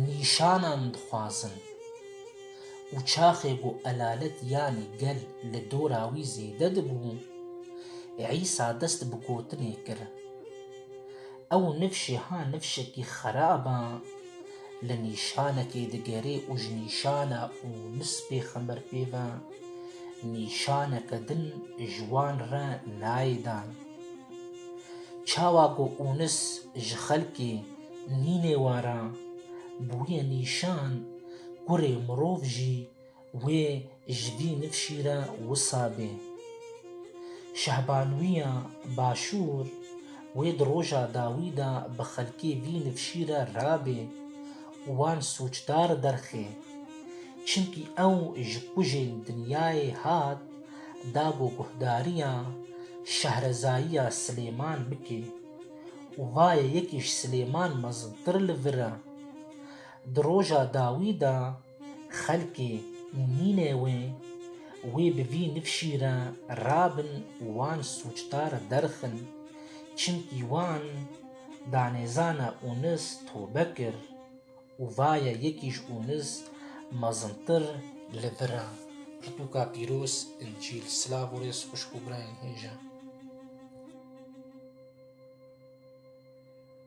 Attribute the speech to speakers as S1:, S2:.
S1: Nîşanan dixwazin û çaxê ku elalet yanî gel li dora wî zêde dibû, Îsa dest bi gotinê kir. Ew nifşê ha nifşekî xerab a, li nîşanekê digerê û ji nîşana û nispê xemberpêve nîşaneke din ji wan re nayê dan. Çawa ku Unis ji xelkê Nînêwara bûye nîşan, kurê mirov jî wê ji vî nifşîre wisa bê. Şehbanwiya Başûr wê di roja dawî de bi xelkê vî nifşîre rabê û wan sûcdar derxê. Çimkî ew ji kujên dinyayê hat, dabû guhdariya şehrezaiya Silêman bike û vaye yekî ji Silêman mezintir li vir e. Di roja dawî de xelkê û mînê wê, wê bi vî nifşî re rabin û wan sûcdar derxin, çimkî wan danêzana Ûnis tobe kir. Û vaye yekî ji ûniz mezintir li vir a. Pirtûka pîroz, Încîl. Silav û rêz xwişk û birayên hêja.